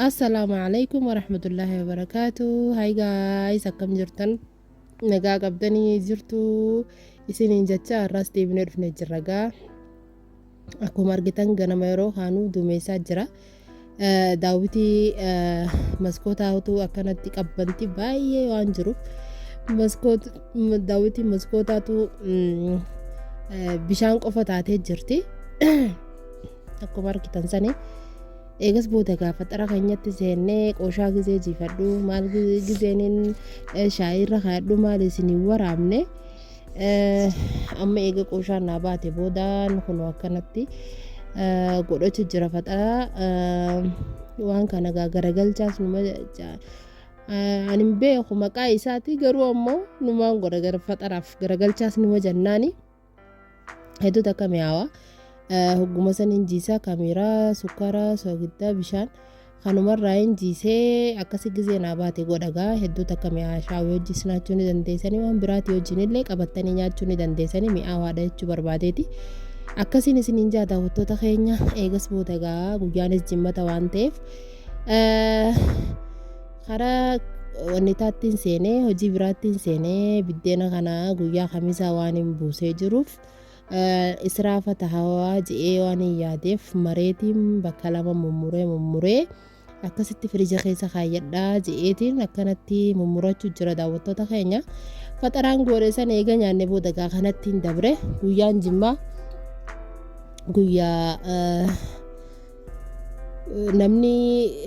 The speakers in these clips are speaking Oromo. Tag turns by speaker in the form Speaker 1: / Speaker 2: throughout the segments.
Speaker 1: assalaamu calaykum waraxmatullaahi wabarakaatu hay gaayis akkam jirtan nagaa qabdanii jirtu isiniin jechaa har'aas deebinee dhufne jirra gaa Akkuma argitan ganama yeroo kaanuu duumessaa jira. Daawwitii maskootaa utuu akkanatti qabbanti baay'ee waan jiruuf daawwitiin maskootaatu bishaan qofa taatee jirti. Akkuma argitan sani eegas booda gaafa xara keenyatti seennee qooshaa gizee jiifadhu maal gizeenin shaayiirra kaadhu maal isin hin waraabne Amma eega qooshaan naa baate boodaan kunoo akkanatti godhacha jira faxaa waan kana gaa garagalchaas numa ani hin beeku maqaa isaati garuu ammoo numaan godha gara faxaraaf garagalchaas numa jannaani hedduu takka mi'aawa hogguma san hin jiisaa kaameeraa sukkaara soogiddaa bishaan Kanumarraayin jiisee akkasi gizee naa baate godha gaa hedduu takka mi'aa shaawii hojii sinaachuu ni dandeessanii waan biraatii hojiinillee qabattanii nyaachuu ni dandeessanii mi'aawaadha jechuu barbaadeeti. Akkasiin isiniin jaa daawwattoota keenya eegas booda gaa guyyaanis jimmata waan ta'eef karaa wannitaattiin seenee hojii biraattiin seenee biddeena kana guyyaa kamisaa waan hin buusee jiruuf. Israafa tahawa je'ee waanin yaadeef mareetiin bakka lama mummuree mummuree akkasitti firija keessa kaayyadhaa je'eetiin akkanatti mummurachu jira daawwattoota keenya faxaraan goodhe san eega nyaanne booda gaa kanattiin dabre guyyaan jimmaa guyyaa namni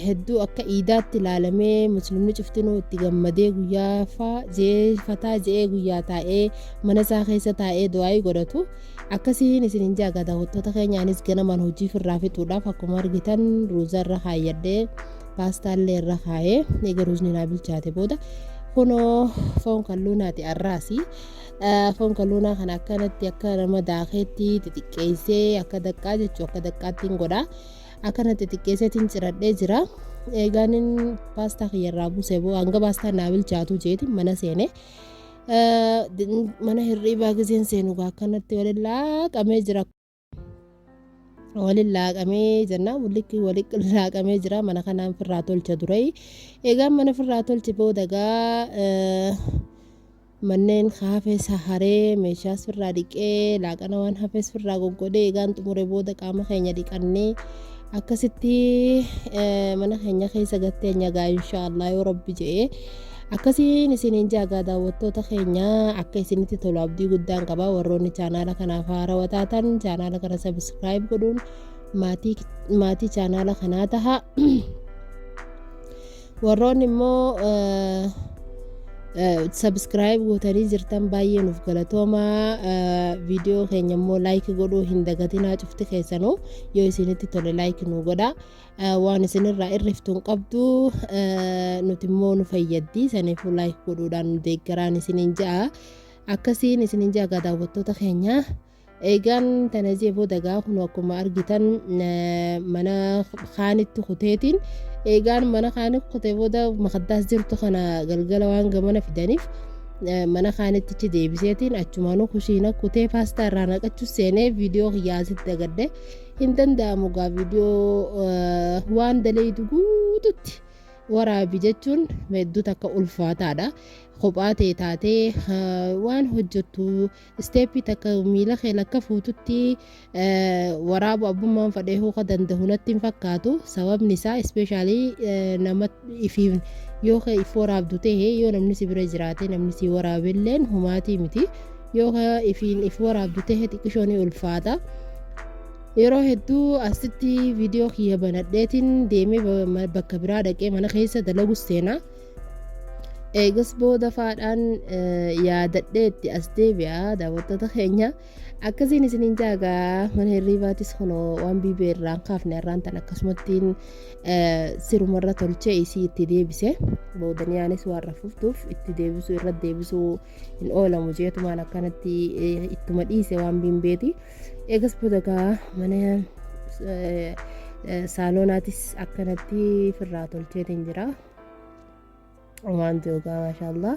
Speaker 1: hedduu akka iidaatti ilaalamee muslimni cuftinuu itti gammadee guyyaa faa je'ee fataa je'ee guyyaa taa'ee mana isaa keessa taa'ee du'aa'ii godhatu akkasiin isin hin jaaga daawwattoota keenyaanis ganamaan hojii firraa fixuudhaaf akkuma argitan ruuzaa irra kaayyadhee paastaallee irra kaa'ee eega ruuzni naa bilchaate booda kunoo foon kalluunaati arraasi Foon kaluunaa kana akkanatti akka nama daakeetti xixiqqeessee akka daqqaa jechuu akka daqqaatti hin godha. Akkana xixiqqeesseetiin ciradhee jira. Eegaan paastaa kiyyarraa buusee boo hanga paastaa naa bilchaatu jeeti mana seene. Mana hirriibaa giseen seenu akkanatti walillaa qabee jira. waliin laaqamee jennaan walitti walitti laaqamee jira mana kanaan firraa tolcha dura egaa mana firraa tolche booda gaa manneen haafees haree meeshaas firraa dhiqee laaqana waan hafees firraa goggodee egaan xumure booda qaama keenya dhiqannee akkasitti mana keenya keessa gattee nyagaa inshaallah yoo rabbi je'ee Akkasiin isiniin jaagaa daawwattoota keenya akka isinitti tolu abdii guddaan qaba warroonni chaanaala kanaaf haarawa taatan chaanaala kana sabiskiraayib godhuun maatii maatii chaanaala kanaa taha warroonni immoo sabiskiraayib gootanii jirtan baay'ee nuuf galatooma viidiyoo keenya immoo laayiki godhuu hin dagatinaa cufti keessanuu yoo isinitti tole laayiki nuu godha waan isinirraa irriftu hin qabdu nuti immoo nu fayyaddi saniifuu laayik godhuudhaan nu deeggaraan isiniin ja'a akkasiin isiniin ja'a gaa daawwattoota keenya eegaan tana jee booda gaa kun akkuma argitan mana kaanitti kuteetiin eegaan mana kaanitti kutee booda makaddaas jirtu kana galgala waan gamana fidaniif mana kaanittichi deebiseetiin achumaanuu kushiina kutee paastaa irraa naqachuu seenee viidiyoo kiyyaa asitti agadde hin danda'amu gaa viidiyoo waan daleeydu guututti waraabi jechuun hedduu takka ulfaataadha. Kophaa ta'e taatee waan hojjettu isteeppii takka miila kee lakka fuututti waraabu abbummaan fadhee hooka danda'u natti hin fakkaatu sababni isaa ispeeshaalii nama dhiifiif yoo ka if waraabdu ta'e yoo namni si bira jiraate namni si waraabelleen homaatii miti yoo ka ifiin if waraabdu ta'e xiqqishoo ni ulfaata yeroo hedduu asitti viidiyoo kiyya banadheetiin deemee ba- ma- bakka biraa dhaqee mana keessa dalagus seena eegas booda faadhaan eh, yaadadhee itti as deebi'a daawwattoota keenya Akkasiin isiniin jaagaa mana hirriibaatis kunoo waan biibee irraan kaafne irraan tan akkasumattiin sirumarra tolchee isii itti deebise boodaniyaanis waan rafuftuuf itti deebisuu irra deebisuu hin oolamu jeetumaan akkanatti ittuma dhiise waan biimbeeti eegas boodagaa mana saalonaatis akkanatti firraa tolcheetiin jira waan joogaa maashaallah.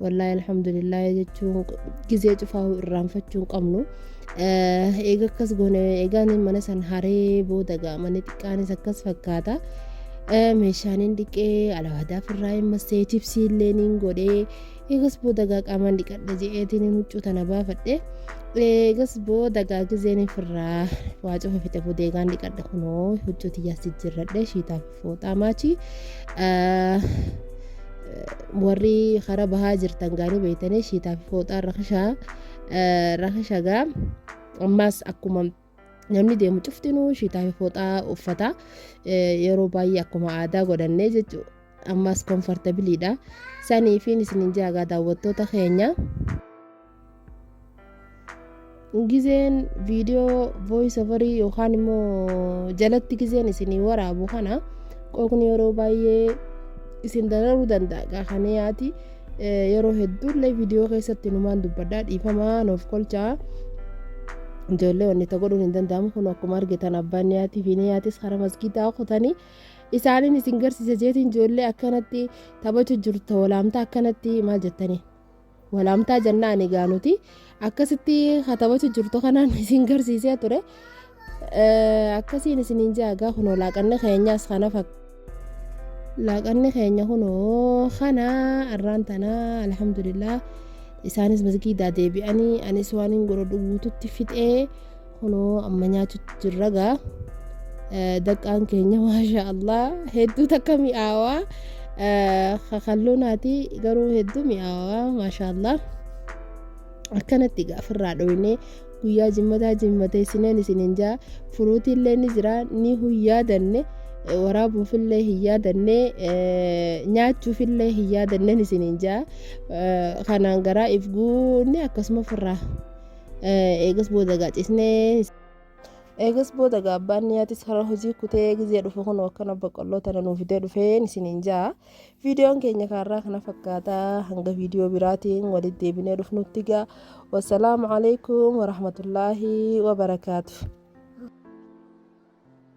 Speaker 1: wallaahi alhamdulillah jechuun gizee cufaa irraanfachuu hin qabnu. Eega akkas goone eegaan mana san haree booda gaamanii xiqqaanis akkas fakkaata. Meeshaan hin dhiqee alawaadaa firraa hin massee chipsii illee niin godhee eegas booda gaa qaamaan dhiqadha je'eetiin hin huccuu tana baafadhe. Eegas booda gaa gizeen firraa waa cufa fixe booda eegaan dhiqadha kunoo huccuu tiyyaas jijjiirradhe shiitaaf Fooxaa maachii warri karaa bahaa jirtan gaanii beektanii shiitaa fi fooxaa rakishaa rakishagaa ammaas akkuma namni deemu cuftinuu shiitaa fi fooxaa uffata yeroo baay'ee akkuma aadaa godhannee jechuudha ammaas komfortabiliidha saniifiin isinin jaagaa daawwattoota keenya. gizeen viidiyoo voice overii yookaan immoo jalatti gizeen isinii waraabu kana qooqni yeroo baay'ee isin dararuu danda'a gaafanii yaati yeroo hedduullee viidiyoo keessatti numaan dubbadhaa dhiifamaa nuuf kolchaa ijoollee wanni ta godhuun hin danda'amu kun akkuma argitan abbaan niyaatii fi niyaatis hara masgiidaa kutanii isaaniin isin garsiisa jeetiin ijoollee akkanatti taphachu jirtu walaamta akkanatti maal jettanii Walaamtaa jennaan egaa nuti akkasitti katabatu jirtu kanaan isin garsiisee ture. Eh, Akkasiin isiniin jaa egaa kunoo laaqanni keenyaas kana fakkaata. Laaqanni keenya kunoo kana arraan tana alhamdulillah isaanis masgiidaa deebi'anii anis waan hin godhu guututti fixee Kunoo amma nyaachutti jirra gaa daqqaan keenya maashaa Allah hedduu takka mi'aawaa kakalloo naati garuu hedduu mi'aawaa maashaa Allah akkanatti gaa ofirraa dhoofnee guyyaa jimmataa jimmatee sineen isiniin jaa furuutiillee ni jira ni huyyaadanne waraabuufillee hin yaadanne nyaachuufillee hin yaadanne isiniin jaa kanaan garaa if guunne akkasuma ofirraa Eegas booda egaa cisnee. Eegas booda egaa abbaan niyaatis karaa hojii kutee gizee dhufe kunoo akkana boqqolloo tana nuu fidee dhufeen isiniin ja'a. Viidiyoon keenya kaarraa kana fakkaata hanga viidiyoo biraatiin walitti deebinee dhufnutti gaa. Wassalaamu alaikum warahmatullaahi wabarakaatu.